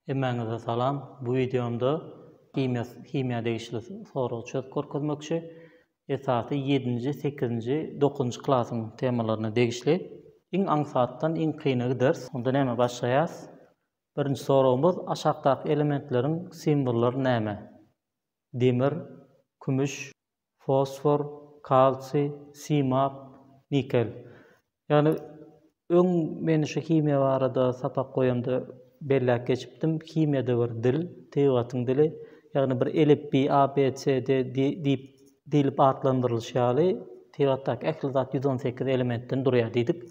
Hemmäňize salam. Bu wideomda himiýa himiýa degişli soragy çözüp görkezmekçi. Esasy ýedinji, sekizinji, dokuzynjy klasyň temalaryna degişli. Iň aňsatdan iň kyna gideris. Onda näme başlaýas? Birinji soragymyz aşakdaky elementleriň simbollary näme? Demir, kümüş, fosfor, kalsiý, simap, nikel. Ýagny öň men şu himiýa barada sapak goýanda belläp geçipdim. Himiýada bir dil, tebigatyň dili, ýagny bir elipbiý A, B, C, D diýip diýlip atlandyrylyşy ýaly, tebigatdaky ähli zat ýüz on sekiz elementden durýar diýdik.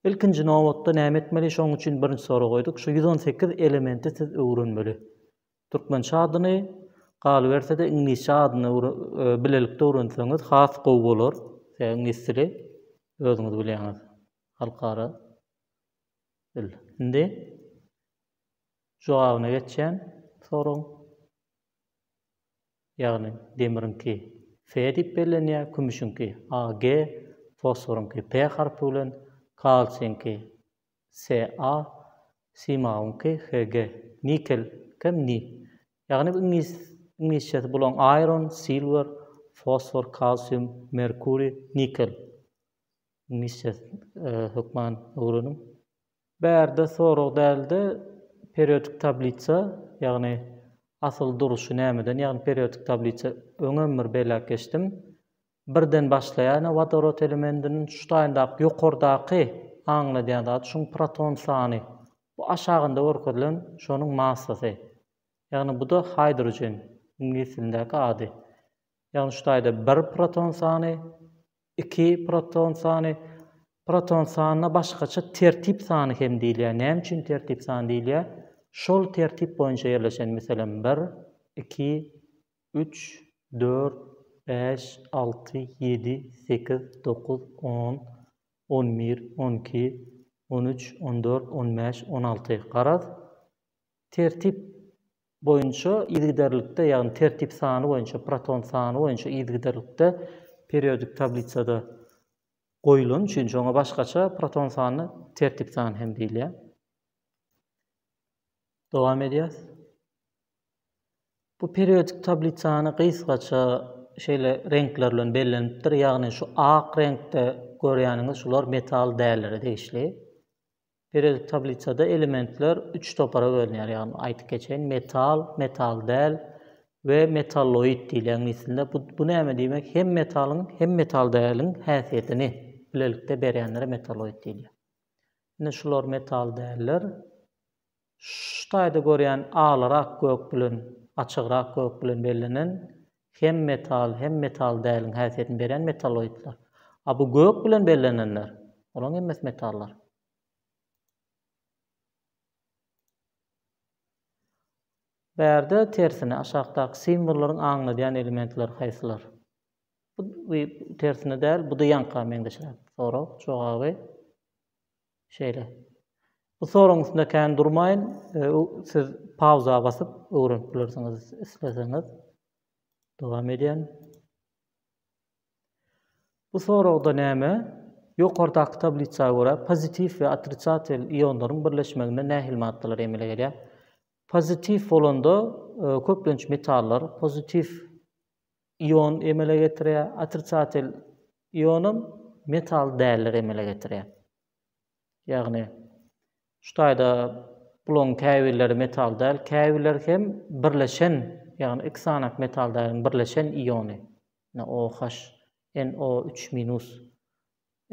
Ilkinji nobatda näme etmeli? Şonuň üçin birinji soragy goýduk. Şu ýüz on sekiz elementi siz öwrenmeli. Türkmençe adyny, galyberse-de iňlisçe adyny bilelikde öwrenseňiz has gowy bolar. Sebäbi iňlis dili özüňiz bilýäňiz, halkara dil. Indi jogabyna geçýän soragyň. Ýagny demiriňki Fe diýip bellenýär, kümüşiňki Ag, fosforyňky P harpy bilen, kalsiýiňki SA, Simagyňky, HG, Nikel, kem, Ni. Ýagny iňlis, iňlisçesi bulaň Iron, Silwer, Fosfor, Kalsium, Merkuri, Nikel. Iňlisçes hökman öwreniň. Bärde sorag dälde periodik tablisa ýagny asyl duruşy nämeden ýagny periodik tablisa öňem bir belläp geçdim. Birden başlaýar ine wodorod elementiniň şu taýyndaky ýokardaky aňladýan zady şuň proton sany. Bu aşagynda görkezilen şonuň massasy. Ýagny bu-da hydrogen, iňlis dilindäki ady. Ýagny şu taýda bir proton sany, iki proton sany. Proton sanyna başgaça tertip sany hem diýilýär. Näme üçin tertip sany diýilýär? Şol tertip boýunça ýerleşen, meselem, bir, iki, Üç, dört, bäş, alty, ýedi, sekiz, dokuz, on, on bir, on iki, on üç, on dört, on bäş, on alty. Garaz, tertip boýunça yzygiderlikde, ýagny tertip sany boýunça, proton sany boýunça yzygiderlikde periodik tablisada goýulany üçin, şoňa başgaça proton sanyna tertip sany hem diýilýär. Dowam edýäs. Bu periodik tablisany gysgaça şeýle reňkler bilen bellenipdir. Ýagny şu ak reňkde görýäniňiz şular metal dällere degişli. Periodik tablisada elementler üç topara bölünýär. Ýagny aýdyp geçeýin, metal, metal däl we metalloid diýilýän mislinde. Bu, bu näme diýmek? Hem metalyň, hem metal däliň häsiýetini bilelikde berýänlere metalloid diýilýär. Indi şular metal däller. Şu taýda görýän alyrak gök bilen açygrak gök bilen bellenen hem metal hem metal däliň häsiýetini berýän metalloidler. A bu gök bilen bellenenler, olaň hemmesi metallar. Bärde tersine aşakdaky simwollaryň aňladýan elementleri haýsylar? Bu tersine däl, bu-da ýaňka meňzeşräk. Sorag, jogaby. Şeýle. Bu soragyň üstünde kän durmaýyn, siz pauza basyp öwrenip bilersiňiz isleseňiz. Dowam edýän. Bu soragda näme? Ýokardaky tablisa görä pozitiw we otrisatel ionlaryň birleşmeginde nähili maddalar emele gelýär? Pozitiw bolanda e, köplenç metallar, pozitiw ion emele getirýär, otrisatel ionam metal däldir emele getirýär. Ýagny şu taýda bularyň käbirleri metal däl, käbirleri hem birleşen, ýagny iki sany metal däliň birleşen iony, NOH, NO üç minus,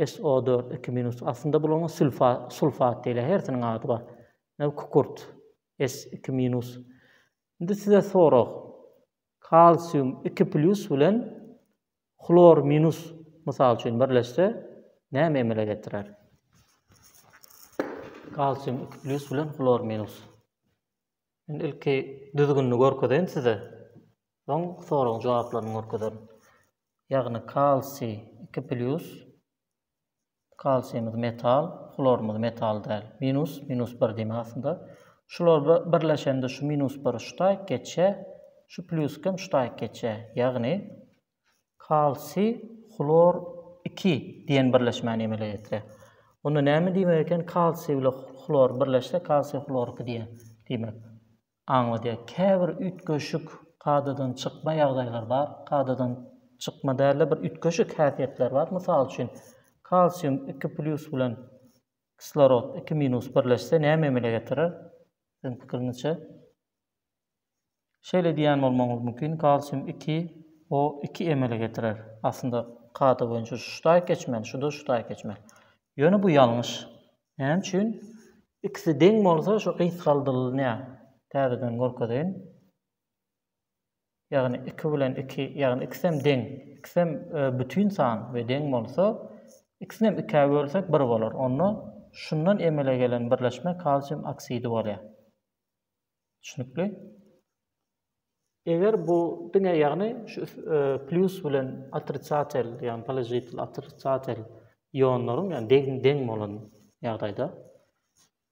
SO dört iki minus, aslynda bularyň sülfa, sulfat diýilýär, hersiniň ady bar. Kükürt, S iki minus. Indi size sorag. Kalsium iki plýus bilen hlor minus, mysal üçin, birleşse, näme emele getirer? Kalsium iki plýus bilen hlor minus. Men ilki düzgünini görkezeýin size. Soň soragyň jogaplaryny görkezerin. Ýagny kalsiý iki plýus Kalsiýumyz metal, hlorumyz metal däl. Minus, minus bir diýmek aslynda. Şular birleşende şu minus bir şu taýyk geçýär, şu plýusk hem şu taýyk geçýär. Ýagny kalsiý, hlor iki diýen birleşmäni emele getirýär. Onda näme diýmek eken? Kalsiý bilen hlor birleşse, kalsiý, hlor iki diýýär diýmek. aňladýar. Käbir üýtgeşik, kadadan çykma ýagdaýlar bar. Kadadan çykma däl-de, bir üýtgeşik häsiýetler bar. Mysal üçin, kalsium iki plýus bilen kislorod iki minus birleşse näme emele getirer? Siziň pikiriňizçe? Şeýle diýýän bolmagyňyz mümkin, kalsium iki o iki emele getirer. Aslynda kada boýunça şu ştaýk geçmeli, şu-da ştaýk geçmeli. Ýöne bu ýalňyş. Näme üçin? Ikisi deň bolsa şu gysgaldylynýar. Täzeden görkezeýin. Ýagny iki bilen iki, ýagny ikisem deň. Ikisem bütin san we deň bolsa, ikisinem ikä bölsek bir bolar. Onda şundan emele gelen birleşme kalsium oksidi bolýar. Düşnükli. Eger bu diňe ýagny şu plyus bilen otrisatel, ýagny položitel, otrisatel ýonlaryň ýagny deň deň bolan ýagdaýda.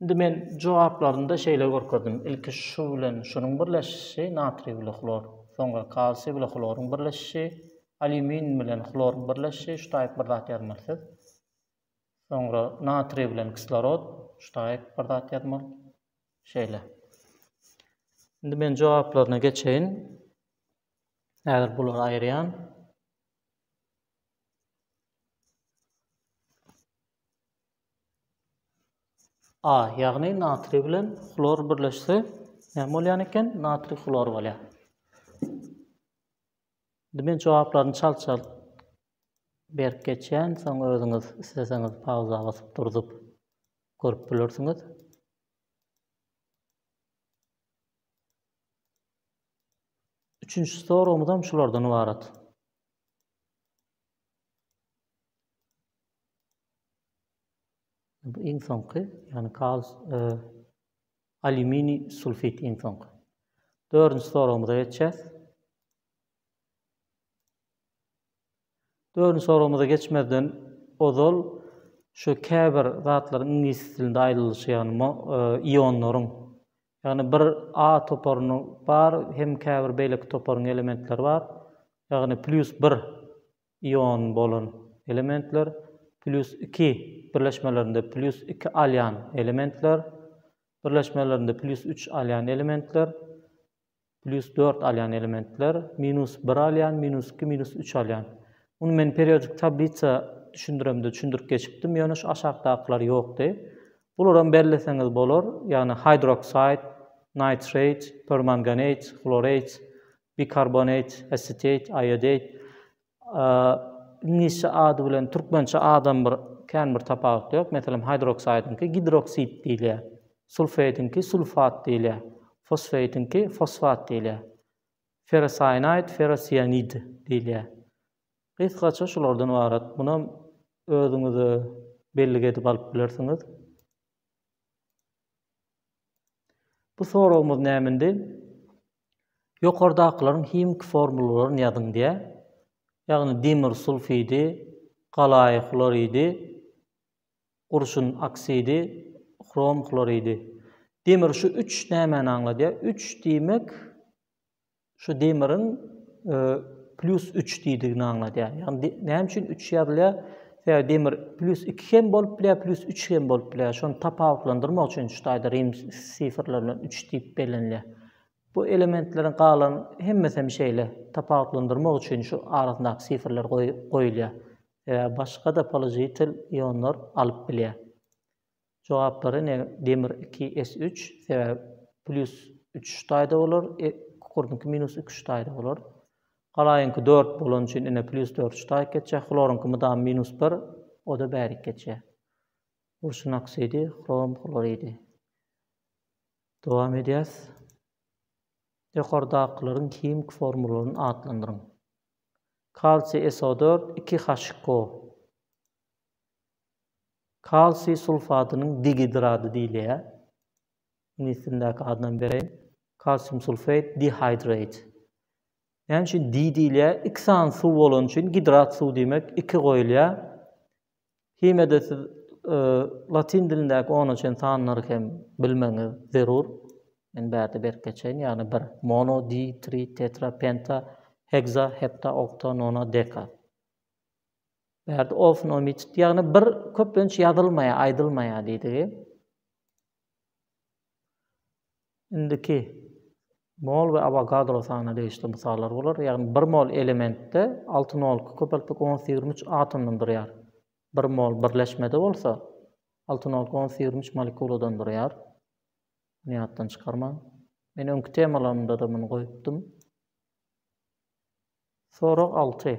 Indi men jogaplarynda şeýle görkezdim. Ilki şu bilen şunuň birleşişi natriý bilen hlor, soňra kalsiý bilen hloryň birleşişi, alýumin bilen hloryň birleşişi şu taýyp bir zat ýazmaly siz. Soňra natriý bilen kislorod, ştaýg bir zat ýazmaly. Şeýle. Indi men jogaplaryna geçeýin. Häzir bulary aýyrýan. A, ýagny natriý bilen hlor birleşse, näme bolýan eken? Natriý hlor bolýar. Indi men jogaplaryny çalt-çalt Berk geçýän, soň özüňiz isleseňiz pauza basyp durzup görüp bilersiňiz. Üçünji soragymyz hem şulardan ybarat. Bu iň soňky, ýagny kal e, alýuminiý sulfit iň soňky. Dördünji soragymyza geçýäs. Dördünji soragymyza geçmezden ozal şu käbir zatlaryň iňlis dilinde aýdylyşy ýagny ionlaryň ýagny bir A toparyny bar hem käbir beýleki toparyň elementleri bar ýagny plýus bir iony bolan elementler plýus iki birleşmelerinde plýus iki alýan elementler birleşmelerinde plýus üç alýan elementler Plýus dört alýan elementler, minus bir alýan, minus iki, minus üç alýan. Muny men periodik tablisa düşündiremde düşündirip geçipdim, ýöne şu aşakdakylar ýokdy. Bularam belleseňiz bolar, ýagny hydroxide, nitrate, permanganate, chlorate, bikarbonate, acetate, iodate. Iňlisçe ady bilen türkmençe adam bir kän bir tapawut ýok. Meselem, hydroksidiňki gidroksid diýilýär. Sulfeýdiňki sulfat diýilýär. Fosfeýdiňki fosfat diýilýär. Ferrosiýanaýd, ferrosiýanid diýilýär. Gysgaça şulardan ybarat. Munam özüňize bellik edip alyp bilersiňiz. Bu soragymyz näme indi? Ýokardakylaryň himiki formulalaryny ýazyň diýýär. Ýagny demir sulfidi, galaýy hloridi, gurşun oksidi, hrom hloridi. Demir şu üç nämäni aňladýar? Üç diýmek şu demiriň plýus üç diýdigini aňladýar. Ýagny näme üçin üç ýazylýar? Sebäbi demir plýus iki hem bolup bilýär, plýus üç hem bolup bilýär. Şony tapawutlandyrmak üçin şu taýda rim sifrleri bilen üç diýip bellenilýär. Bu elementleriň galan hemmesi hem şeýle, tapawutlandyrmak üçin şu arasyndaky sifrler goýulýar. Sebäbi başga-da položitel ionlar alyp bilýär. Jogaplary ine demir iki S üç, sebäbi plýus üç taýda bolar, e, kukurdynky minus iki üç taýda bolar. Galaýyňky dört bolany üçin ine plýus dört üç taýyk geçýär, hloryňky mydama minus bir, o-da bärik geçýär. Urşun oksidi, hrom hloridi. Dowam edýäs. Ýokardakylaryň himiki formularyny atlandyryň. Kalsiý SO dört, iki HCO. Kalsiý sulfadynyň digidrady diýilýär. Iňlis dilindäki adyny hem bereýin. Calcium sulfate dihydrate. Näme üçin di diýilýär? Iki sany suw bolany üçin gidrat suw diýmek iki goýulýar. Himede siz latyn dilindäki ona çen sanlary hem bilmegiňiz zerur. Men bärde berip geçeýin, ýagny bir, mono, di, tri, tetra, penta, hekza, hepta, okta, nona, deka. Bärde ofnomit, ýagny bir köplenç ýazylmaýar, aýdylmaýar diýdigi. Indiki mol we Avogadro sanyna degişli mysallar bolar. Ýagny bir mol elementde alty nolky köpeltmek ons ýigrimi üç atomdan durýar. Bir mol birleşmede bolsa alty nolky ons ýigrimi üç molekuladan durýar. Muny ýatdan çykarmaň. Men öňki temalarymda-da muny goýupdym. Sorag alty.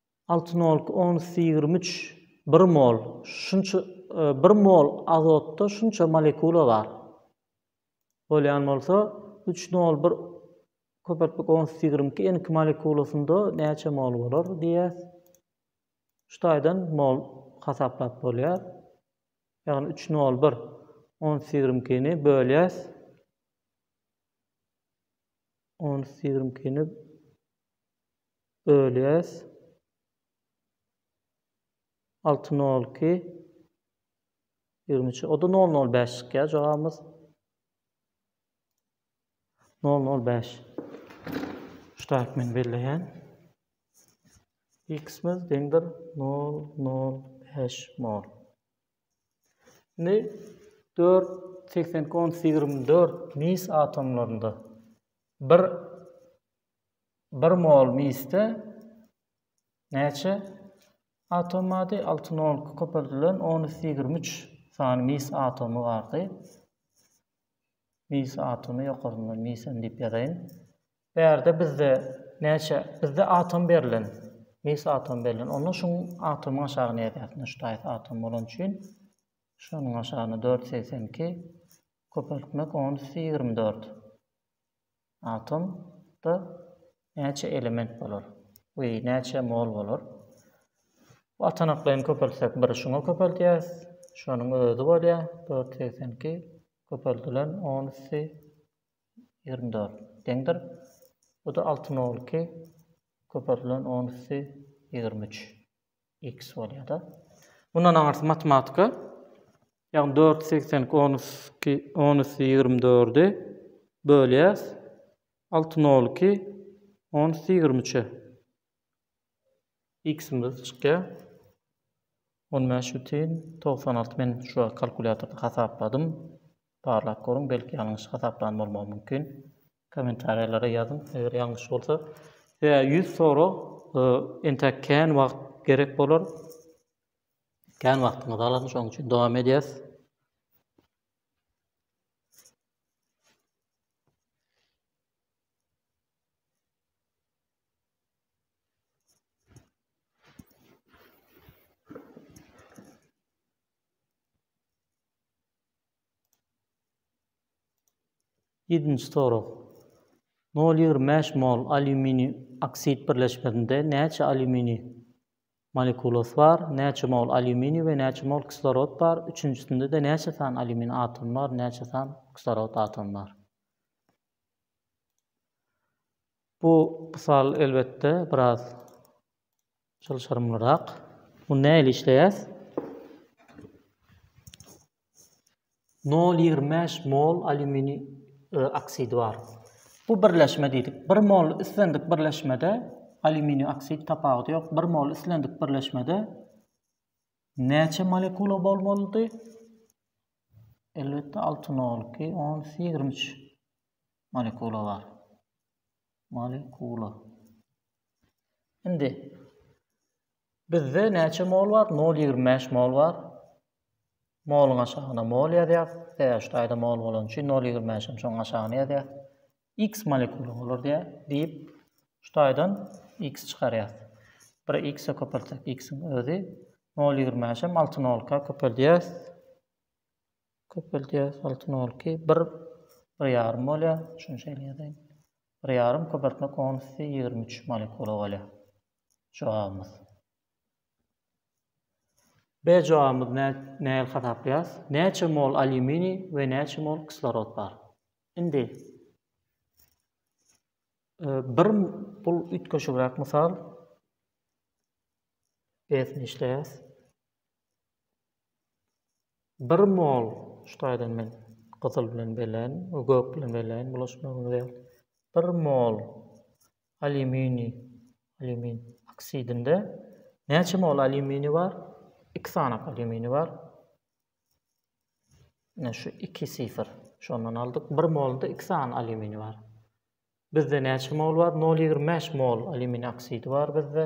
Altyn olky onsy ýigrimi üç bir mol şunça bir mol azotda şunça molekula bar bolýan bolsa üç nol bir köpeltmek onsy ýigrimi iki n iki molekulasynda näçe mol bolar diýýäs şu taýdan mol hasaplap bolýar ýagny üç nol bir onsy ýigrimi iki ni bölýäs onsy ýigrimi iki ni Ölýäs. Alty nol iki. Ýigrimi üç. O-da nol nol bäş çykýar jogabymyz. Nol nol bäş. Şutak men belleýän. X-miz deňdir nol nol bäş mol. Indi dört seksen on ýigrimi dört mis atomlarynda bir 1 mol misde näçe atom bardy? 6 nol köpeldilen 10 üsti 23 sany mis atomy bardy. Mis atomy ýokaryndan mis hem diýip ýazaýyn. Bu ýerde bizde näçe? Bizde atom berlen. Mis atom berlen. Onda şu atomyň aşagyny ýazýarsyň. Şu taýs atom bolan üçin şunuň aşagyny 482 köpeltmek 10 üsti 24. Atomda näçe element bolar we näçe mol bolar? Bu atanaklaýyn köpeltsek bir şuňa köpeldýäs, şonuň özi bolýar, dört ýüz segsen iki köpeldilen on üsti ýigrimi dört deňdir. Bu-da alty nol iki köpeldilen on üsti ýigrimi üç. X bolýar-da. Mundan aňyrsy matematika. Ýagny dört ýüz segsen iki on üsti ýigrimi dördi bölýäs alty nol iki on üsti ýigrimi üçe. X-imiz çykýar. On bäş bütin togsan alty. Men şu wagt kalkulýatorda hasapladym. Barlap görüň, belki ýalňyş hasaplan bolmagym mümkin. Kommentariýalara ýazyň eger ýalňyş bolsa. Ýa ýüz sorag entäk kän wagt gerek bolar. Kän wagtyňyzy alar şoň üçin dowam edýäs. Ýedinji sorag. Nol ýigrimi bäş mol alýuminiý oksid birleşmesinde näçe alýuminiý molekulasy bar, näçe mol alýuminiý we näçe mol kislorod bar, üçünjisinde-de näçe sany alýuminiý atomy bar, näçe sany kislorod atomy bar? Bu mysal elbetde biraz Çalşarymlyrak. Muny nähili işleýäs? Nol ýigrimi bäş mol alýuminiý oksidi bar. Bu birleşme diýdik. Bir mol islendik birleşmede alýuminiý oksid tapawudy ýok. Bir mol islendik birleşmede näçe molekula bolmalydy? Elbetde 6 nol 2 10 23 molekula bar. Molekula. Indi bizde näçe mol bar? 0,25 mol bar. Moluň aşagyna mol ýazýas. Sebäbi şaýda mol bolan üçin 0,25 hem şoň aşagyna ýazýas. X molekula bolar diýä, diýip şaýdan X çykarýas. Bir X-e köpeltsek X-iň özi 0,25 hem 6 nolka köpeldýäs. Köpeldýäs altyn olky bir bir ýarym bolýa şuny şeýle ýazaýyn bir ýarym köpeltme konusy ýigrimi üç molekula bolýa jogabymyz. B jogabymyz nähili hasaplaýas näçe mol alýuminiý we näçe mol kislorod bar indi bir bul üýtgeşigräk mysal B sini işleýäs. Bir mol ştaýdan men gyzyl bilen belen we gök bilen beleýin bulaşmagyny ýaly. Bir mol alýuminiý, alýumin oksidinde näçe mol alýuminiý bar? Iki sanak alýuminiý bar. Ine şu iki sifr. Şondan aldyk. Bir molda iki sany alýuminiý bar. Bizde näçe mol bar? 0,25 mol alýuminiý oksidi bar bizde.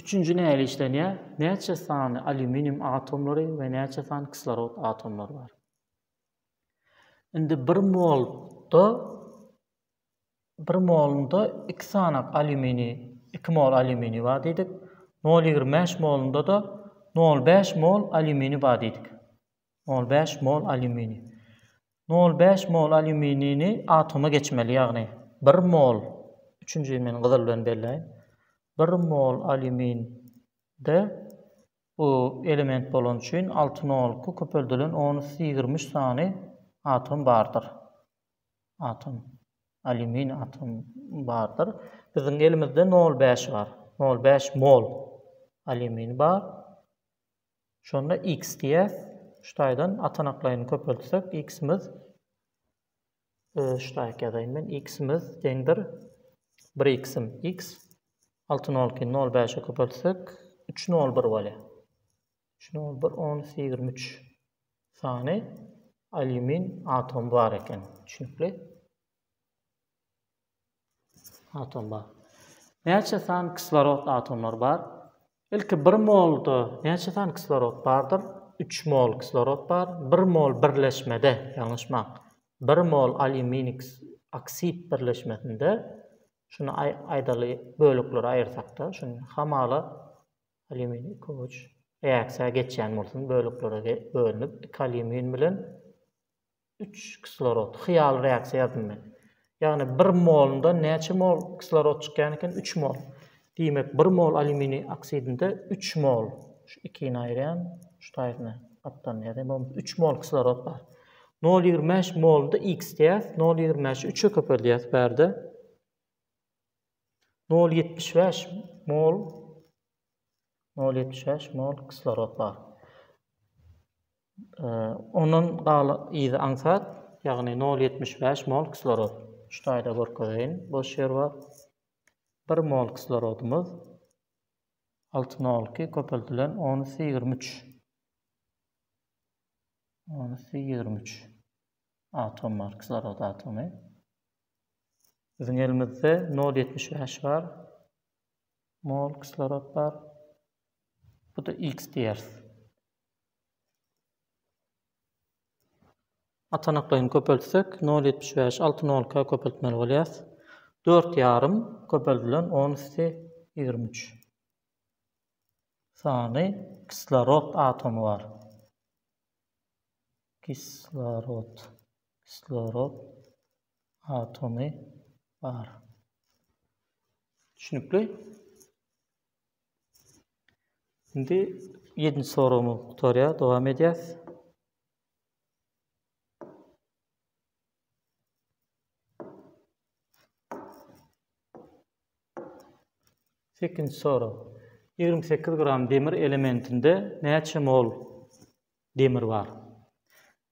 Üçünji nähili işlenýär? Näçe sany alýuminium atomlary we näçe sany kislorod atomlary bar? Indi bir molda bir molunda iki sanak alýumini, iki mol alýumini bar diýdik. Nol ýigrimi bäş molunda-da nol bäş mol alýumini bar diýdik. Nol bäş mol alýuminiý. Nol bäş mol alýuminini atoma geçmeli, ýagny bir mol, üçünjini men gyzyl bilen belläýin, bir mol alýuminde bu element bolany üçin alty nolky köpeldilen on üsti ýigrimi üç sany atom bardyr. Atom. Alýumin atom bardyr. Biziň elimizde nol bäş bar. Nol bäş mol alýumini bar. Şonda x diýýäs. Şu taýdan atanaklaýyny köpeltsek, x-imiz şu taýak ýazaýyn men. X-imiz deňdir. 1 x-im x. 6 nol ikini nol bäşe köpeltsek, 3 nol bir bolýar. 3 nol bir on iki ýigrimi üç sany alýumin atomy bar eken. Düşnükli. Atom bar. Näçe sany kislorod atomlary bar? Ilki bir molda näçe sany kislorod bardyr? Üç mol kislorod bar. Bir mol birleşmede, ýalňyşmaň. Bir mol alýuminiý oksid birleşmesinde, şuny aýdaly böleklere aýyrsak-da, şuny hamala alýuminiý iki uç reaksiýa geçýän bolsun, böleklere bölünip, iki alýumin bilen Üç kislorod. Hyýaly reaksiýa ýazdym men. Ýagny bir molunda näçe mol kislorod çykýan eken? Üç mol. Diýmek, bir mol alýuminiý oksidinde üç mol, şu ikini aýyrýan, şu taýyny gapdalynda ýazýan, bolmasa üç mol kislorod bar. Nol ýigrimi bäş moluny-da x diýýäs, nol ýigrimi bäşi üçe köpeldýäs bärde. Nol ýetmiş bäş mol, nol ýetmiş bäş mol kislorod bar. Ondan galan yzy aňsat, ýagny nol ýetmiş bäş mol kislorod. Şu taýda görkezeýin, boş ýer bar. Bir mol kislorodymyz alty nol iki köpeldilen on üsti ýigrimi üç. On üsti ýigrimi üç atom bar, kislorod atomy. Biziň elimizde nol ýetmiş bäş bar. Mol kislorod bar. Bu-da x diýeris. Atanaklaýyny köpeltsek, nol ýetmiş bäş, alty nolka köpeltmeli bolýas. Dört ýarym köpeldilen on üsti ýigrimi üç sany kislorod atomy bar. Kislorod, kislorod atomy bar. Düşnükli? Indi ýedinji soragymyz gutarýar, dowam edýäs. Sekizinji sorag. Ýigrimi sekiz gram demir elementinde näçe mol Demir bar.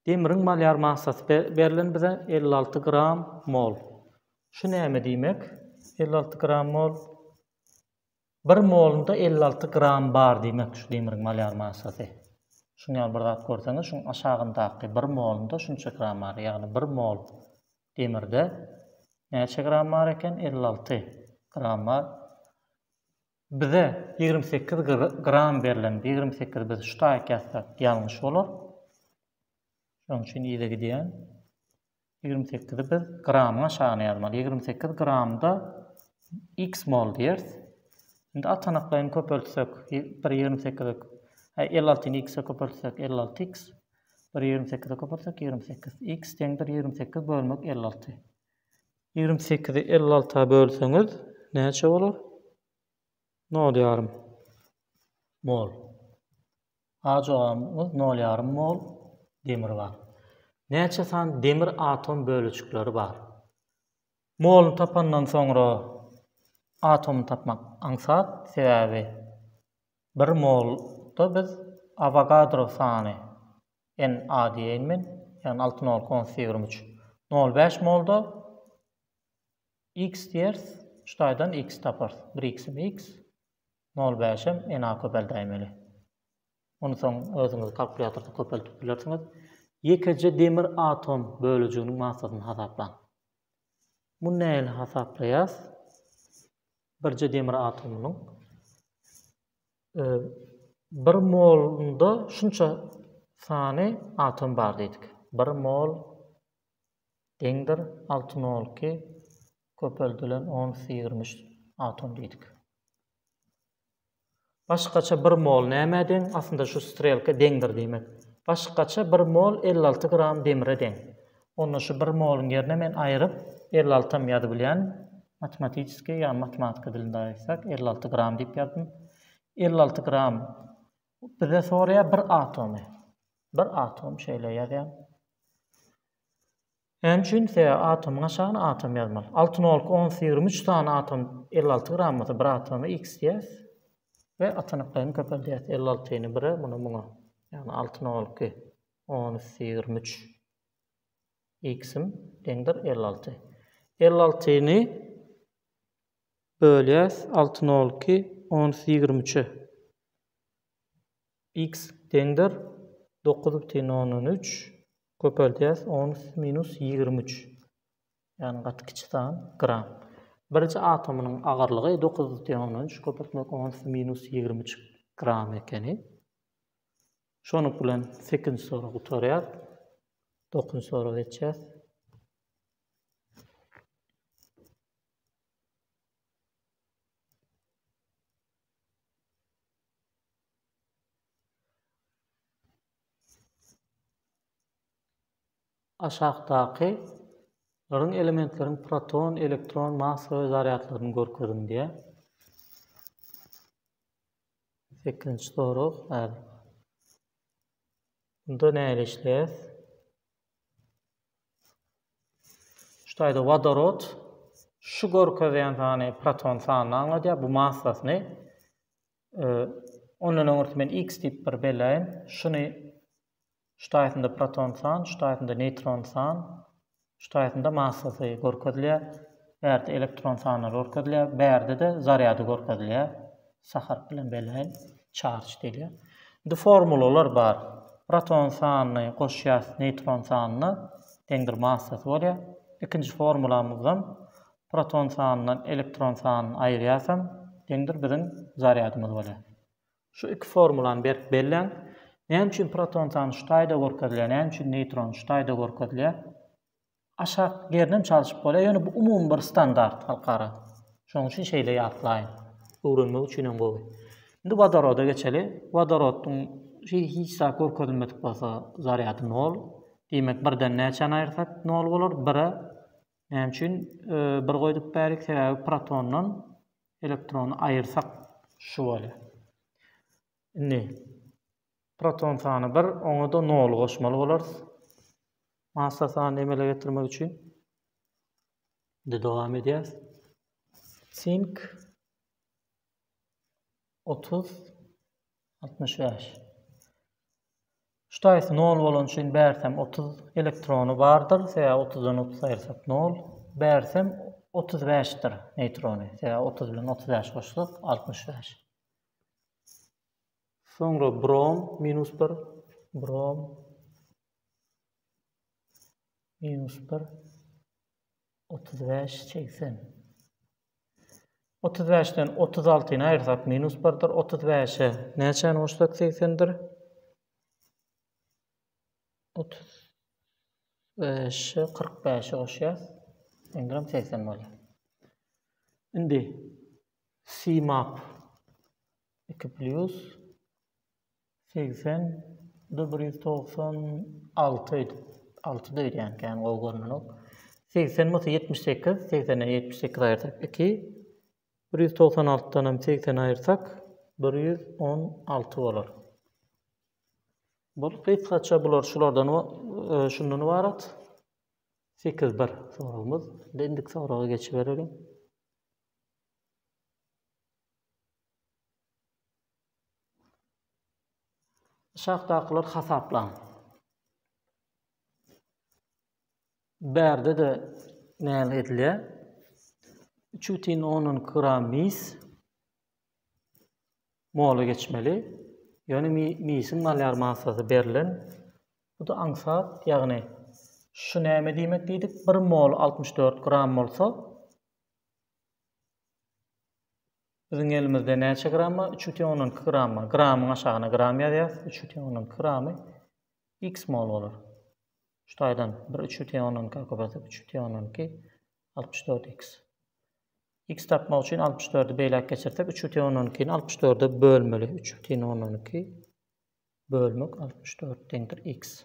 Demiriň malýar massasy berlen bize elli alty gram mol. Şu näme diýmek? Elli alty gram mol. Bir molunda elli alty gram bar diýmek şu demiriň malýar massasy. Şuň ýaly bir zat görseňiz, şuň aşagyndaky bir molunda şunça gram bar. Ýagny bir mol demirde näçe gram bar eken? Elli alty gram bar. Bize ýigrimi sekiz gram berlendi. Ýigrimi sekiz biz şu taýyk ýazsak ýalňyş bolar. Şonuň üçin yza gidýän. Ýigrimi sekizi biz gramyň aşagyna ýazmaly. Ýigrimi sekiz gramda x mol diýeris. Indi atanaklaýyn köpeltsek, bir ýigrimi sekizi elli altyny x-e köpeltsek, elli alty x. Bir ýigrimi sekizi köpeltsek, ýigrimi sekiz. X deňdir ýigrimi sekiz bölmek elli alty. Ýigrimi sekizi elli alta bölseňiz näçe bolar? Nol ýarym mol. A jogabymyz nol ýarym mol demir bar. Näçe sany demir atom bölejikleri bar? Moluny tapandan soňra atomy tapmak aňsat, sebäbi bir molda biz Awogadro sany NA diýeýin men, ýagny alty nol konus ýigrimi üç. Nol bäş molda X diýeris, şu taýdan X taparys. Bir X-im X, nol bäşem NA köpeldäýmeli. Ony soň özüňiz kalkulýatorda köpeltip bilersiňiz. Ýekeje demir atom bölejiginiň massasyny hasaplaň. Muny nähili hasaplaýas? Birje demir atomynyň Bir molunda şunça sany atom bar diýdik. Bir mol deňdir alty nol iki köpeldilen on üstü ýigrimi üç atom diýdik. Başgaça bir mol nämä deň? Aslynda şu strelka deňdir diýmek. Başgaça bir mol elli alty gram demire deň. Onda şu bir moluň ýerine men aýryp elli altam ýazybilýän. Matematiskiý, ýagny matematika dilinde aýtsak, elli alty gram diýip ýazdym. Elli alty gram bize soraýar bir atomy. Bir atom şeýle ýazýan. Näme üçin? Sebäbi atomyň aşagyna atom ýazmaly. Alty nolka ons ýigrimi üç sany atom elli alty gram bolsa bir atomy x diýýäs we atanyklaryny köpeldýäs. Elli altyny bire, muny muňa. Ýagny alty nolka on üsti ýigrimi üç. X-im deňdir elli alty. Elli altyny bölýäs alty nol iki ons ýigrimi üçe. X deňdir dokuz bütin ondan üç köpeldýäs ons minus ýigrimi üç. Ýagny gaty kiçi san, gram. Birji atomynyň agyrlygy dokuz bütin ondan üç köpeltmek ons minus ýigrimi üç gram ekeni. Şonuň bilen sekizinji sorag gutarýar. Dokuzynjy soraga geçýäs. aşakdaky laryň elementleriň proton, elektron, massa we zarýadlaryny görkeziň diýýär. Sekizinji sorag, Häzir Onda nähili işleýäs? Şu taýda wodorod şu görkezýän sany proton sanyny aňladýar, bu massasyny. Ondan öňürti men x diýip bir belläýin. Şuny şu taýsyna proton san, şu taýsyna neýtron san, şu taýsyna massasy görkezilýär. Bärde elektron sanlary görkezilýär, bärde-de zarýady görkezilýär. Sa harpy bilen belläýin. Çarç diýilýär. Indi formulalar bar. Proton sanyny goşýas neýtron sanyna, deňdir massasy bolýar. Ikinji formulamyzdan proton sanyndan elektron sanyny aýyrýasam, deňdir biziň zarýadymyz bolýar. Şu iki formulany berk belläň. Näme üçin proton sany şu taýda görkezilýär, näme üçin neýtron şu taýda görkezilýär? Aşak ýerinem çalşyp bolýar, ýöne bu umumy bir standart halkara. Şonuň üçin şeýle ýatlaýyn. Öwrenmek üçin hem gowy. Indi wodoroda geçeli. Wodorodyň şeýle hiç zat görkezilmedik bolsa zarýady nol. Diýmek birden näçäni aýyrsak nol bolar? Bire näme üçin bir goýdup bärik? Sebäbi protondan Elektrony aýyrsak şu bolýa. Indi proton sany bir, oňa-da nol goşmaly bolarys. Massa sanyny emele getirmek üçin. Indi dowam edýäs. Sink 30 Altmyş bäş. Ştaýsy nol bolany üçin bärsem otuz elektrony bardyr, sebäbi otuzdan otuz aýyrsak nol. Bärsem otuz bäşdir neýtrony, sebäbi otuz bilen otuz bäş goşsak altmyş bäş. Soňra brom minus bir, brom minus bir, otuz bäş, segsen. Otuz bäşden otuz altyny aýyrsak, minus birdir. Otuz bäşe näçäni goşsak, segsendir. Otuz beşe kyrk bäşi goşýas. Endiram segsen bolýar. Indi simap iki plyus Segsen, bu da bir ýüz togsan alty öýdüp, altyda öýdýän kän gowy görnenok. Segsen bolsa ýetmiş sekiz, segsenden ýetmiş sekiz aýyrsak iki. Bir ýüz togsan altydan hem segsen aýyrsak, bir ýüz on alty bolar. Bul gysgaça bular şulardan e, şundan ibarat. Sekiz bir soragymyz. Indi indiki soraga geçiberelim. Aşakdakylary hasaplaň. Bärde-de näme edilýär? 3,12 gram mis mola geçmeli. Ýöne misiň malýar massasy berlen. Bu-da aňsat, ýagny şu näme diýmek diýdik? 1 mol 64 gram bolsa, Biziň elimizde näçe gram bar? Üç bütin ondan iki gram bar. Gramyň aşagyna gram ýazýarys. Üç bütin ondan iki gramy x mol bolar. Şu taýdan bir üç bütin ondan iki köpeltsek, üç bütin ondan iki, altmyş dört x. X tapmak üçin 64-i beýläk geçirsek, 3 bütin ondan ikini 64-e bölmeli. 3 bütin ondan iki bölmek 64 deňdir x.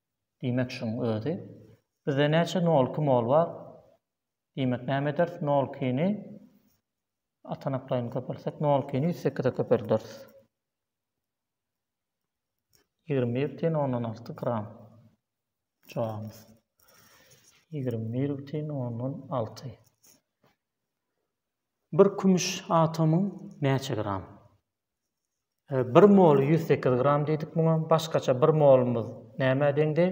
Diýmek şuň özi. Bizde näçe nol iki mol bar? Diýmek näme ederis? Nol ikini atanaklaýyn köpeltsek nol ikini ýüz sekize köpelderis. Ýigrimi bir bütin ondan alty gram. Jogabymyz. Ýigrimi bir bütin ondan alty. Bir kümüş atomyň näçe gram? Bir moly ýüz sekiz gram diýdik muňa. Başgaça bir molumyz nämä deňdi?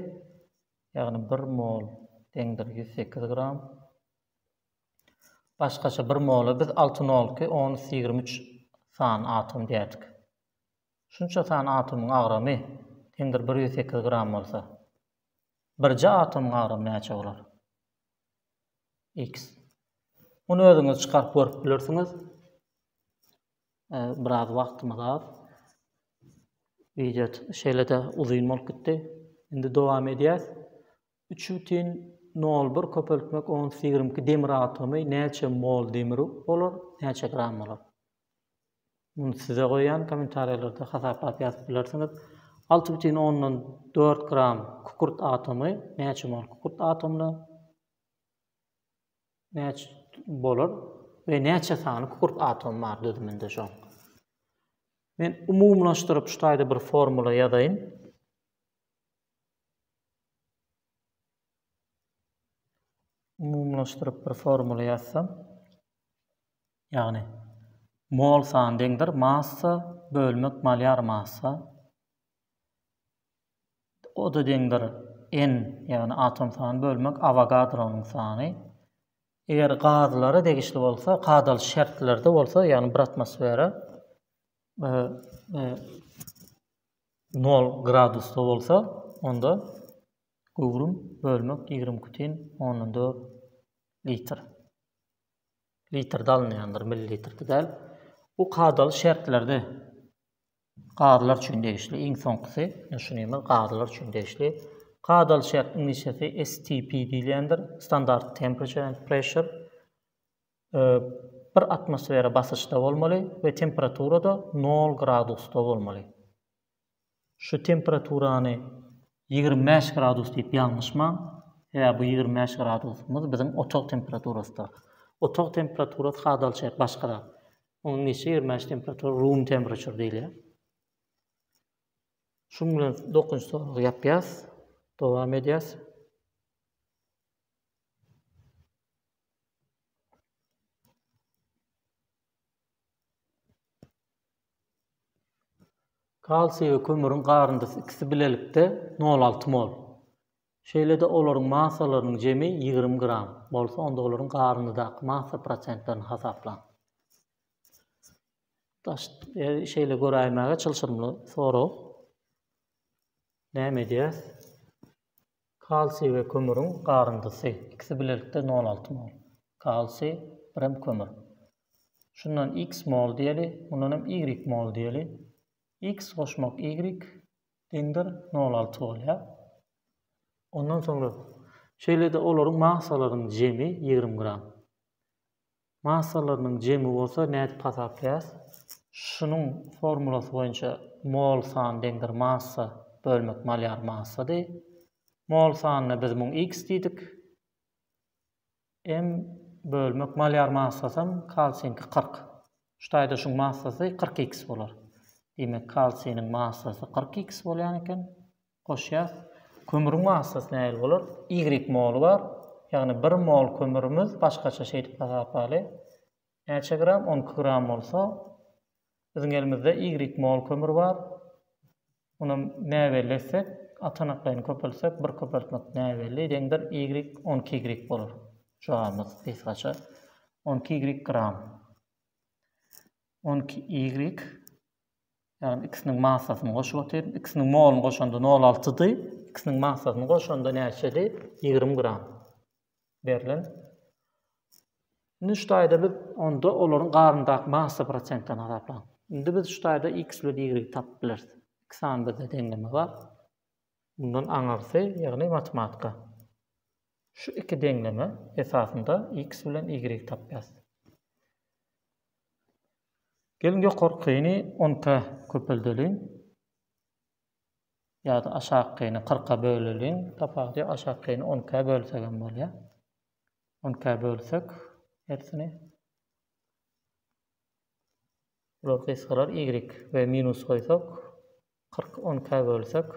Ýagny bir mol deňdir ýüz sekiz gram. Başgaça bir mola biz alty nolky on üç ýigrimi üç san atom diýerdik. Şunça san atomyň agramy deňdir bir ýüz sekiz gram bolsa, birje atomyň agramy näçe bolar? X. Muny özüňiz çykaryp görüp bilersiňiz. Biraz wagtymyz az. Wideo şeýle-de uzyn bolup gitdi. Indi dowam edýäs. 3,01 köpeltmek ons ýigrimi iki demir atomy näçe mol demir bolar, näçe gram bolar? Muny size goýýan kommentariýalarda hasaplap ýazyp bilersiňiz. Alty bütin ondan dört gram kükürt atomy näçe mol kükürt atomyna Näçe bolar we näçe sany kükürt atomy bar düzüminde şoň? Men umumylaşdyryp şu taýda bir formula ýazaýyn. Umumylaşdyryp bir formula ýazsam, ýagny mol san deňdir massa bölmek malýar massa O-da deňdir n, ýagny atom sany bölmek Awogadronyň sany. Eger gazlara degişli bolsa, kadaly şertlerde bolsa, ýagny bir atmosfera nol gradusda bolsa, onda göwrüm bölmek ýigrimi iki bütin ondan dört litr. Litrde alynýandyr, millilitrde däl. Bu kadaly şertlerde. Gazylar üçin degişli, iň soňkusy, düşünimiz gazylar üçin degişli. Kadaly çäk iňlisçesi STP diýilýändir, standard temperature and pressure, bir atmosfera basyşda bolmaly we temperaturada nol gradusda bolmaly. Şu temperaturany ýigrimi bäş gradus diýip ýalňyşmaň, sebäbi bu ýigrimi bäş gradusymyz biziň otag temperaturasydyr. Otag temperaturasy kadaly çäk başga zat. Onuň geçirilmän temperatury room temperature diýilýär. Şuň bilen dokunç soragy ýapýas. Dowam edýäs. Kalsiý we kömüriň garyndysy ikisi bilelikde 0,6 mol. Şeýle-de olaryň massalarynyň jemi ýigrimi gram bolsa, onda olaryň garyndaky massa prosentlerini hasaplaň. Daş, e, şeýle göräýmäge çylşyrymly sorag. Näme edýäs? Kalsiý we kömüriň garyndysy. Ikisi bilelikde 0,6 mol. Kalsiý, birem kömür. Şundan x mol diýeli, mundan hem y mol diýeli. X goşmak y, Deňdir nol alty bolýar. Ondan soňra şeýle-de olaryň massalarynyň jemi ýigrimi gram. Massalarynyň jemi bolsa nädip hasaplaýarys? Şunuň formulasy boýunça mol san deňdir massa bölmek malýar massady. Mol sanyna biz muň x diýdik. Em bölmek malýar massasam kalsiňki kyrk. Şu taýda şuň massasy kyrk iks bolar. Diýmek, kalsiniň massasy kyrk iks bolýan eken. Goşýas. Kömüriň massasy nähili bolar? Ýigrik moly bar. Ýagny bir mol kömürimiz başgaça şeýdip hasaplaly. Näçe gram? On iki gram bolsa, biziň elimizde ýigrik mol kömür bar. Ony näbelli etsek, atanaklaýyny köpeltsek, bir köpeltmek näbelli deňdir, ýigrik, on iki ýigrik bolar. Jogabymyz gysgaça, on iki ýigrik gram. On iki ýigrik, ýagny ikisiniň massasyny goşup otyryn. Ikisiniň moluny goşanda nol altydy. Ikisiniň massasyny goşanda näçedi? Ýigrimi gram. berlen. Indi şu taýda biz onda olaryň garyndaky massa prosentini hasaplan. Indi biz şu taýda x bilen y tapyp bileris. Iki sany bizde deňleme bar. Bundan aňyrsy, ýagny matematika. Şu iki deňleme esasynda x bilen y tapýas. Gelin ýokarkyny 10 ka köpeldeliň. ýa-da aşakyny kyrka böleliň. Tapawudy ýok. Aşakyny on ikä bölsek hem bolýar. On ikä bölsek hersini. Bular gysgalar y we minus goýsak kyrk on ikä bölsek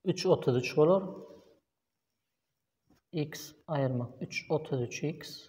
üç otuz üç bolar. X aýyrmak üç otuz üç x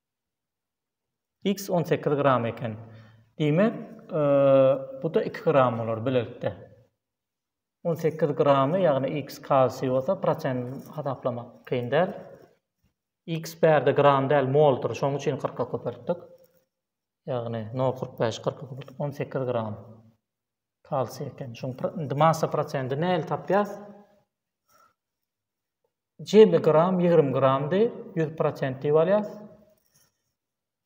X on sekiz gram eken. Diýmek, bu-da iki gram bolar bilelikde. On sekiz gramy, ýagny X kalsiý bolsa, prosent hasaplamak kyn däl. X bärde gram däl, moldur. Şonuň üçin kyrka köpeltdik. Ýagny, nol kyrk bäş, kyrka köpeltdik. On sekiz gram kalsiý eken. Şonuň massa prosendi nähili tapýas? Jemi gram ýigrimi gramdy, ýüz prosent diýip alýas.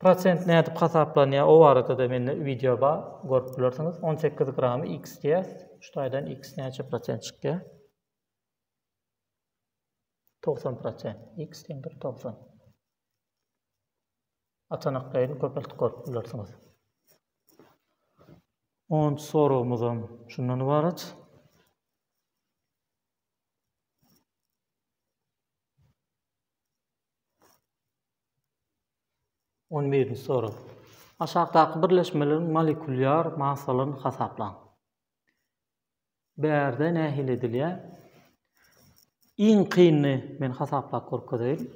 Prosent nädip hasaplanýar o barada-da mende wideo bar, görüp bilersiňiz. On sekiz gramy x diýýäs. Şu taýdan x näçe prosent çykýar? Togsan prosent. X deňdir togsan. Atanaklaýyn köpeltip görüp bilersiňiz. Onunjy soragymyzam şundan ybarat. On birinji sorag. Aşakdaky birleşmeleriň molekulýar massalaryny hasaplaň. Bärde nähili edilýär? Iň kynyny men hasaplap görkezeýin.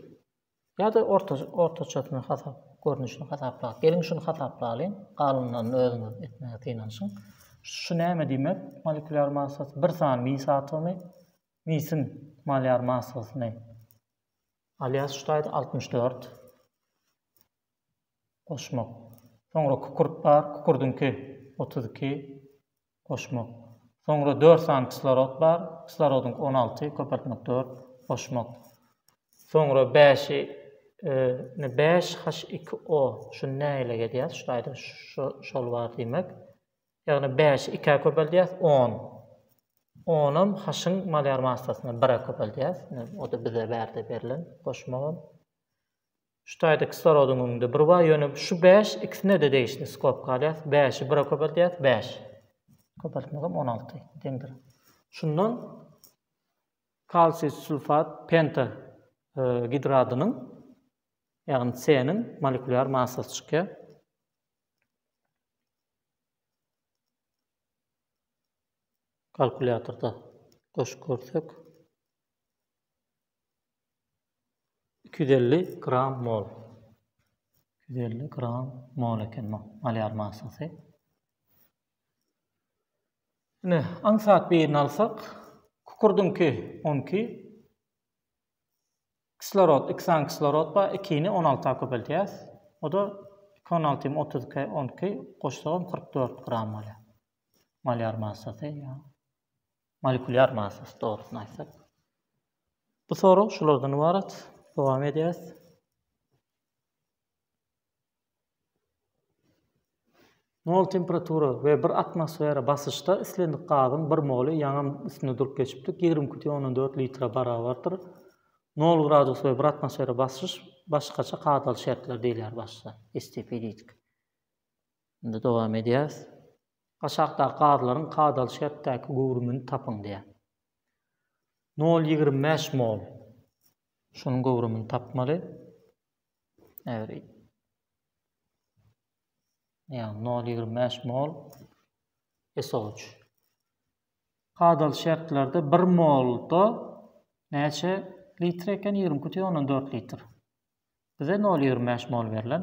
Ýa-da orta, ortaçasyny hasap, görnüşini hasaplaýarys. Geliň şuny hasaplalyň, galynlaryny özüňiz etmäge synanyşyň. Şu näme diýmek? Molekulýar massasy bir sany mis atomy misiň malyar massasyny alýas şu taýda 64 goşmak. Soňra kükürt bar, kükürdiňki 32. goşmak. Soňra dört sany kislorod bar, kislorodyňky on alty, köpeltmek dört, goşmak. Soňra bäşi, ine bäş H iki O, şuny nägileg edýäs, şu taýda şu şol bar diýmek. Ýagny bäşi ikä köpeldýäs, on. Onam H-yň molýar massasyna, bire köpeldýäs, ine o-da bize bärde berlen, goşmagam. Şu taýda kislorodyň öňünde bir bar, ýöne şu bäş ikisine-de degişli skobka alýas, bäşi bire köpeldýäs, bäş. Köpeltmegem on alty deňdir. Şundan kalsiý sulfat penta gidradynyň, ýagny C-niň molekulýar massasy çykýar. Kalkulýatorda goşup görsek. iki ýüz elli gram mol iki ýüz elli gram mol eken bu malýar massasy ine aňsat birini alsak kukurdyňky on iki kislorod iki sany kislorod bar ikini on alta köpeldýäs o da iki on alty otuz iki on iki goşsagam kyrk dört gram bolýar malýar massasy Molekulýar massasy, dogrusyny aýtsak. Bu sorag şulardan ybarat. Dowam edýäs. Nol temperatura we bir atmosfera basyşda islendik gazyň bir moly ýaňam üstünde durup geçipdik, ýigrimi iki tüýn ondan dört litre barabardyr. Nol gradus we bir atmosfera basyş başgaça kadaly şertler diýilýär başda, STP diýdik. Indi dowam edýäs. Aşakdaky gazlaryň kadaly şertdäki göwrümini tapyň diýýär. Nol ýigrimi bäş mol. Şunuň göwrümini tapmaly. Äwr. Ýagny nol ýigrimi bäş mol SO3. Kadaly şertlerde bir molda näçe litr eken? Ýigrimi iki butyn ondan dört litr. Bize nol ýigrimi bäş mol berlen.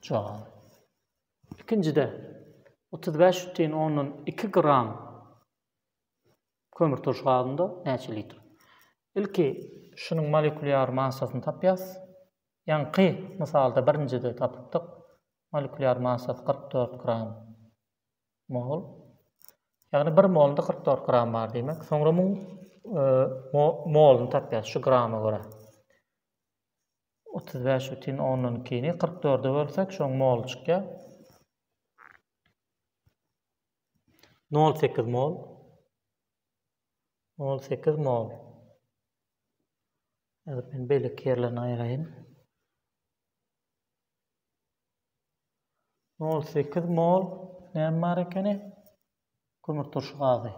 Çaga. Ikinjide 35,2 gram kömür turş gazynda näçe litr? Ilki şunuň molekulýar massasyny tapýas. Ýaňky mysalda birinjide tapypdyk. Molekulýar massasy 44 gram mol. Ýagny 1 molunda 44 gram bar diýmek. Soňra muň e, moluny tapýas şu grama görä. Otuz bäş bütin ondan ikini kyrk dörde bölsek, şoň moly çykýar. Nol sekiz mol. Nol sekiz mol. Ýazyp men beýleki ýerlerini aýraýyn. Nol sekiz mol näme bar ekeni? Kömürturşy gazy.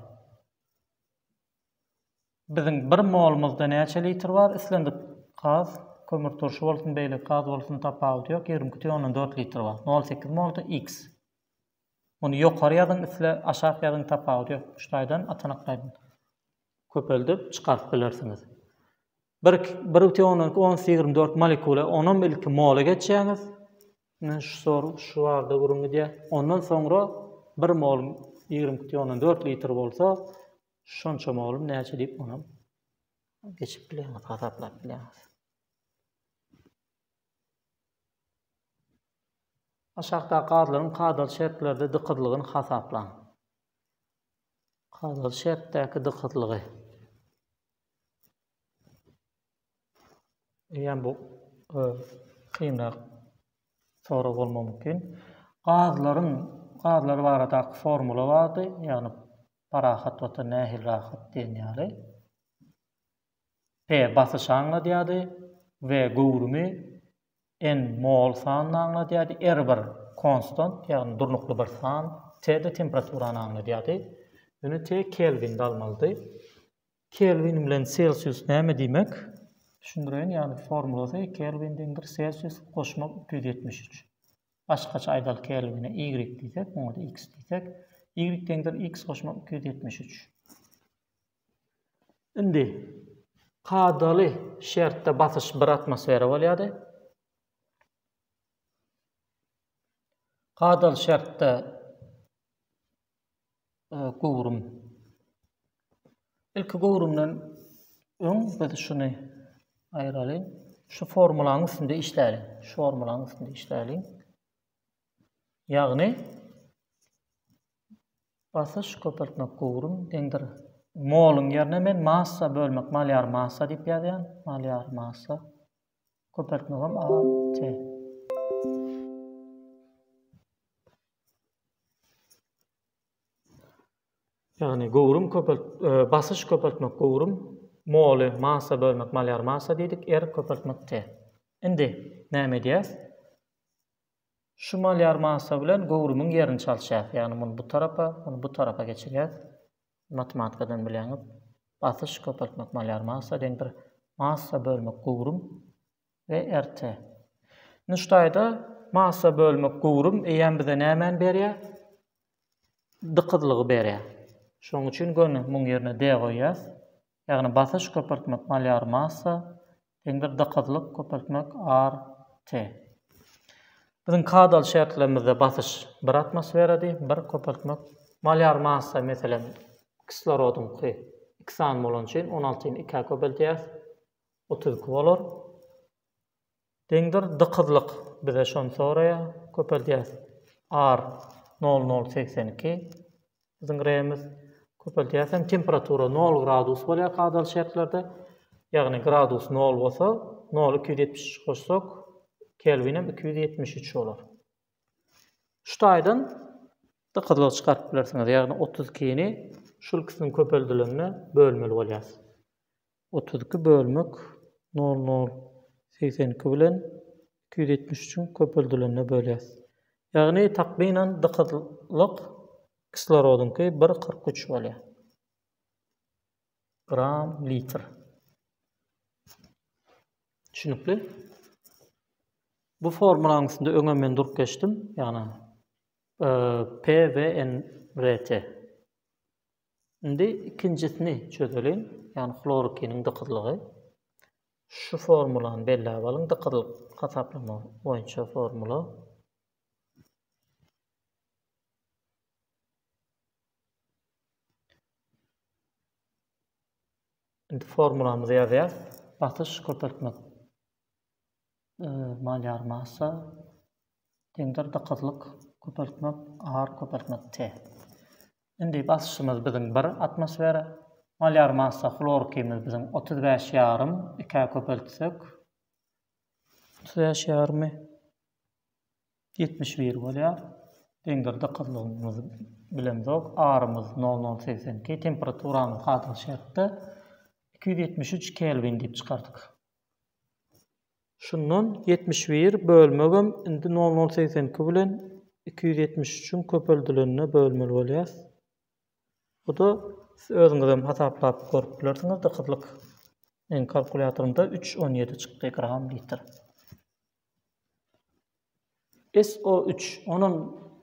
Biziň bir molumyzda näçe litr bar, islendik gaz, kömür turşy bolsun, beýleki gaz bolsun, tapawudy ýok, ýigrimi iki tüýn ondan dört litr bar. Nol sekiz molda X. Muny ýokary ýazyň, isle aşak ýazyň, tapawudy ýok. Şu taýdan, atanak taýdan köpeldip çykaryp bilersiňiz. Bir bir butyn ondan iki ons ýigrimi dört molekula onam ilki mola geçýäňiz men şu sor şu barada gürrüň gidýär ondan soňra bir mol ýigrimi iki butyn ondan dört litr bolsa şonça molum näçe diýip onam geçip bilýäňiz hasaplap bilýäňiz aşakdaky gazlaryň kadaly şertlerde dykyzlygyny hasaplaň kadaly şertdäki dykyzlygy Eýýäm bu kynrak sorag bolmagy mümkin. Gazlaryň gazlar baradaky formula bardy, ýagny parahat watan nähili rahat diýen ýaly. P basyşy aňladýardy, V göwrümi, N mol sanyny aňladýardy, R bir konstant, ýagny durnukly bir san, T-de temperaturany aňladýardy. Ýöne T kelvinde almalydy. Kelwin bilen selsius näme diýmek? Düşündireýin, ýagny formulasy kelwin deňdir selsius goşmak iki ýüz ýetmiş üç. Başgaça aýdaly kelwine y diýsek, muňada x diýsek, y deňdir x goşmak iki ýüz ýetmiş üç. Indi kadaly şertde basyş bir atmosfera bolýardy. Kadaly şertde göwrüm. Ilki göwrümden öň biz şuny aýraly. Şu formulanyň üstünde işläli. Şu formulanyň üstünde işläli. Ýagny basyş köpeltmek göwrüm deňdir. Moluň ýerine men massa bölmek, malýar massa diýip ýazýan. Malýar massa. Köpeltmegim A, T. Ýagny göwrüm köpelt basyş köpeltmek göwrüm moly massa bölmek malýar massa diýdik r köpeltmek t. Indi näme edýäs? Şu malýar massa bilen göwrümiň ýerini çalyşýas. Ýagny muny bu tarapa, muny bu tarapa geçirýäs. Matematikadan bilýäňiz. Basyş köpeltmek malýar massa deňdir massa bölmek göwrüm We erte. Nuştaýda massa bölmek göwrüm eýýäm bize nämäni berýär? Dykyzlygy berýär. Şonuň üçin göni muň ýerine de goýýas. Ýagny basyş köpeltmek malýar massa deňdir dykyzlyk köpeltmek ar te. Biziň kadaly şertlerimizde basyş bir atmosferady, bir köpeltmek malýar massa meselem kislorodyňky iki sany bolany üçin on altyny ikä köpeltýäs. Otuz iki bolar. Deňdir dykyzlyk bize şony soraýar. Köpeldýäs. Ar, nol, nol, segsen iki. Biziň gremiz. Köpeldýäs hem temperatura nol gradus bolýar kadaly şertlerde. Ýagny gradus nol bolsa, noly iki ýüz ýetmiş üç goşsak, kelwinem iki ýüz ýetmiş üç bolar. Şu taýdan dykyzlygy çykaryp bilersiňiz. Ýagny otuz ikini şul ikisiniň köpeldilende bölmeli bolýarys. Otuz iki bölmek nol nol segsen iki bilen iki ýüz ýetmiş üçiň köpeldilende bölýäs. Ýagny takmynan dykyzlyk kislorodyňky bir kyrk üç bolýar. Gram litr. Düşünikli? Bu formulanyň üstünde öňe men durup geçdim. Ýagny e, P ve N RT. Indi ikinjisini çözeliň, ýagny hlorokiniň dykyzlygy. Şu formulany belläp alyň, dykyzlyk hasaplama boýunça formula. Indi formulamyzy ýazýas. Basyş köpeltmek Malýar massa, deňdir dykyzlyk, köpeltmek, ar köpeltmek, te. Indi basyşymyz biziň bir atmosfera, malýar massa hlorkimiz biziň otuz bäş ýarym, ikä köpeltsek, otuz bäş ýarymy ýetmiş bir bolýar, deňdir dykyzlygymyzy bilemzok, arymyz nol nol segsen iki, temperaturamyz hazirki şertde iki ýüz ýetmiş üç kelwin diýip çykardyk. Şundan ýetmiş bir bölmegem indi nol nol segsen iki bilen iki ýüz ýetmiş üçiň köpeldilende bölmeli bolýas. Bu-da siz özüňizem hasaplap görüp bilersiňiz-de gyzlyk. Meniň kalkulýatorymda üç on ýedi çykdy gram litr. SO üç, onam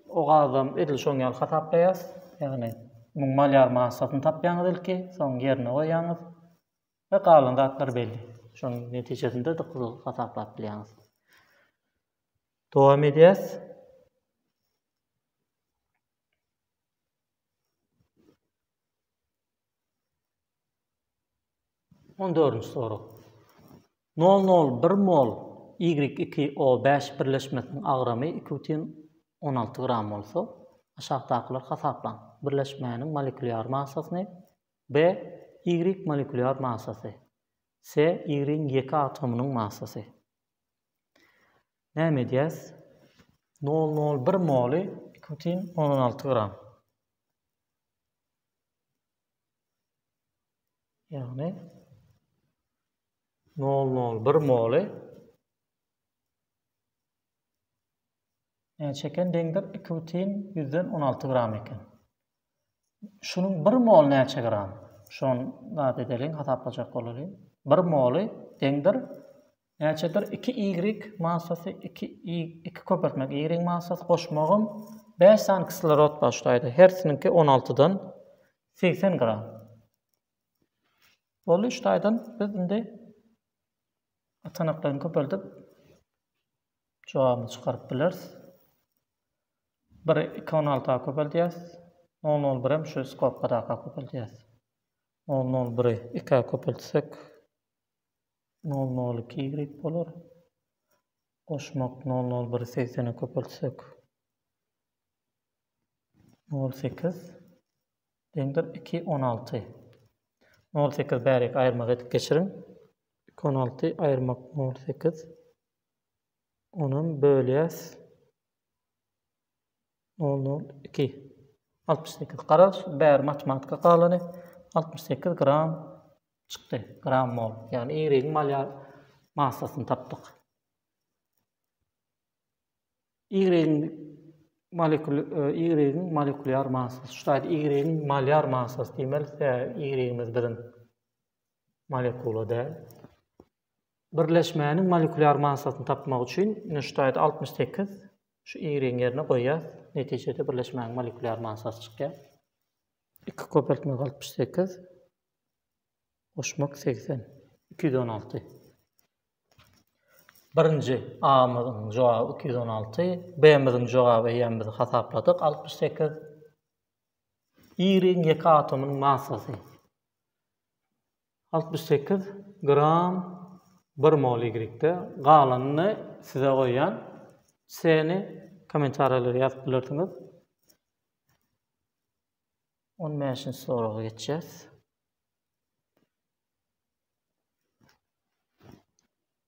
o gazam edil şoň ýaly hasaplaýas. Ýagny muň malýar massasyny tapýaňyz ilki, soň ýerine goýýaňyz. we galan zatlar belli. Şonuň netijesinde-de gyzyl hasaplap bilýäňiz. Dowam edýäs. On dördünji sorag. 0,01 mol Y2O5 birleşmesiniň agramy 2,16 gram bolsa, aşakdakylar hasaplaň. Birleşmäniň molekülýar massasyny, Be, ýigrik molekulýar massasy. Se, ýigrigiň ýeke atomynyň massasy. Näme edýäs? Nol nol bir moly iki bütin ondan alty gram. Ýagny nol nol bir moly näçe eken deňdir? Iki bütin ýüzden on alty gram eken. Şunuň bir mol näçe gram? Şony zat edeliň, hasaplajak bolalyň. Bir moly deňdir näçedir? Iki ýigrik massasy, iki iki köpeltmek ýigrigiň massasy goşmagym bäş sany kislorod bar şu taýda. Hersiniňki on altydan segsen gram. Boldy, şu taýdan biz indi atanaklaryny köpeldip jogabyny çykaryp bileris. Bir iki on alta köpeldýäs. Nol nol birem şu skobka daka köpeldýäs. Nol nol biri ikä köpeltsek nol nol iki ýigrik bolar. Goşmak nol nol biri segsene köpeltsek nol sekiz deňdir iki on alty. Nol sekiz bärik aýyrmak edip geçiriň. Iki on alty aýyrmak nol sekiz. Onam bölýäs. Nol nol iki. Altmyş sekiz. Garaz, bäri matematika galany. Altmyş sekiz gram çykdy. Gram mol. Ýagny ýeriň malýar massasyny tapdyk. Ýeriň molekul ýeriň e, molekulýar massasy. Şu taýda ýeriň malýar massasy diýmeli, sebäbi ýerimiz biziň molekula däl. Birleşmäniň molekulýar massasyny tapmak üçin nuşdaýda altmyş sekiz şu y-yň ýerine goýýas. Netijede birleşmäniň molekulýar massasy çykýar. Iki köpeltmek altmyş sekiz. Goşmak segsen. Iki ýüz on alty. Birinji A-myzyň jogaby iki ýüz on alty. B-myzyň jogaby eýýäm biz hasapladyk altmyş sekiz. Y-yň ýeke atomynyň massasy. Altmyş sekiz gram bir mol ýigritde galanyny size goýýan ceny kommentariýalara ýazyp bilersiňiz. On bäşinji soraga geçýäs.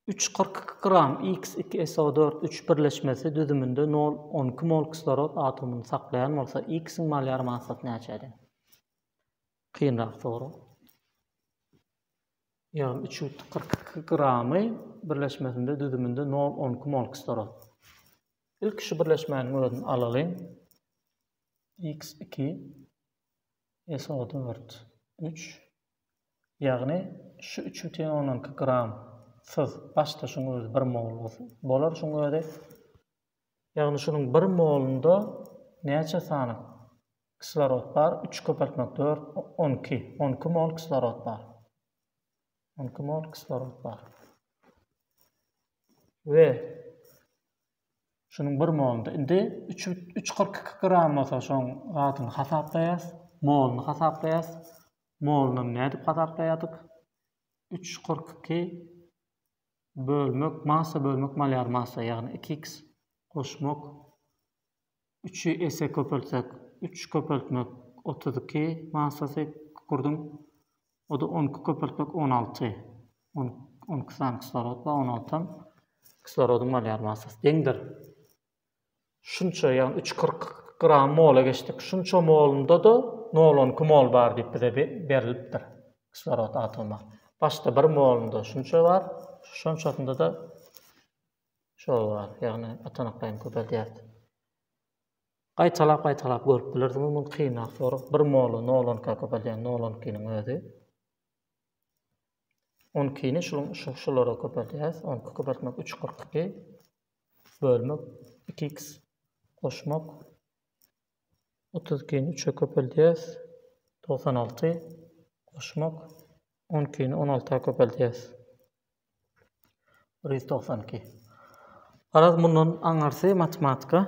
Üç kyrk iki gram x iki SO dört üç birleşmesi düzüminde nol on iki mol kislorod atomyny saklaýan bolsa, x-iň malýar massasy näçedir? Kynrak sorag. Ýagny üç ýüz kyrk iki gramy birleşmesinde düzüminde nol on iki mol kislorod. Ilki şu birleşmäniň özüni alalyň. X iki SO dört üç ýagny şu üç bütin ondan iki gram syz başda şuň özi bir mol bolsun. Bolar şuň özi Ýagny şunuň bir molunda näçe sany kislorod bar? Üç köpeltmek dört, on iki. On iki mol kislorod bar. On iki mol kislorod bar. We şunuň bir molunda. Indi üç, üç kyrk iki gram bolsa şoň zadyny hasaplaýas. Moluny hasaplaýas. Molunam nädip hasaplaýardyk? Üç kyrk iki Bölmek massa bölmek malýar massa ýagny iki iks goşmak üçi esse köpeltsek üç köpeltmek otuz iki massasy kükürdiň oda on iki köpeltmek on alty on on iki sany kislorod bar on altam kislorodyň malýar massasy deňdir Şunça, ýagny üç kyrk gram mola geçdik. Şunça molunda-da nol on iki mol bar diýip bize berilipdir kislorod atomy. Başda bir molunda şunça bar, şonçasynda-da şol bar, ýagny atanaklaýyn köpeldýär. Gaýtalap-gaýtalap görüp bilersiňiz, muny kynrak sorag. Bir moly nol on ikä köpeldýän, nol on ikiniň özi. On ikini şulara köpeldýäris, on iki köpeltmek üç kyrk iki. bölmek, iki x goşmak, otuz ikini üçe köpeldýäs, togsan alty, goşmak, on ikini on alta köpeldýäs. Bir ýüz togsan iki. Garaz, mundan aňyrsy matematika.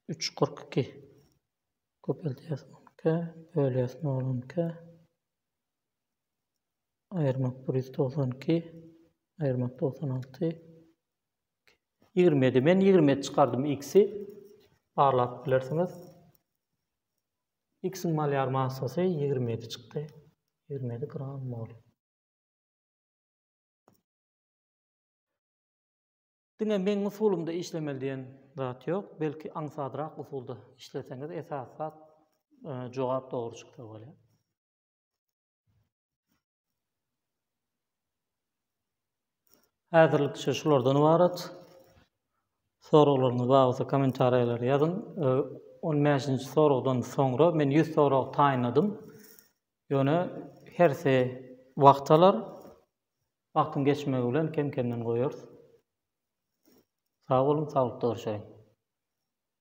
Üç kyrk iki. Köpeldýäs on iki, bölýäs nol on iki. aýyrmak bir ýüz togsan iki, aýyrmak togsan alty, ýigrimi ýedi. Men ýigrimi ýedi çykardym x-i. Barlap bilersiňiz. X-iň malýar massasy ýigrimi ýedi çykdy. Ýigrimi ýedi gram mol. Diňe meň usulymda işlemeli diýen zat ýok. Belki aňsadrak usulda işleseňiz esas zat e, jogap dogry çyksa bolýar. Häzirlikçe şulardan ybarat. Soraglaryňyz bar bolsa kommentariýalara ýazyň. 15-nji soragdan soňra men 100 sorag taýynladym. Ýöne hersi wagt alar. Wagtyň geçmegi bilen kem-kemden goýarys. Sag boluň, saglykda görşeýin.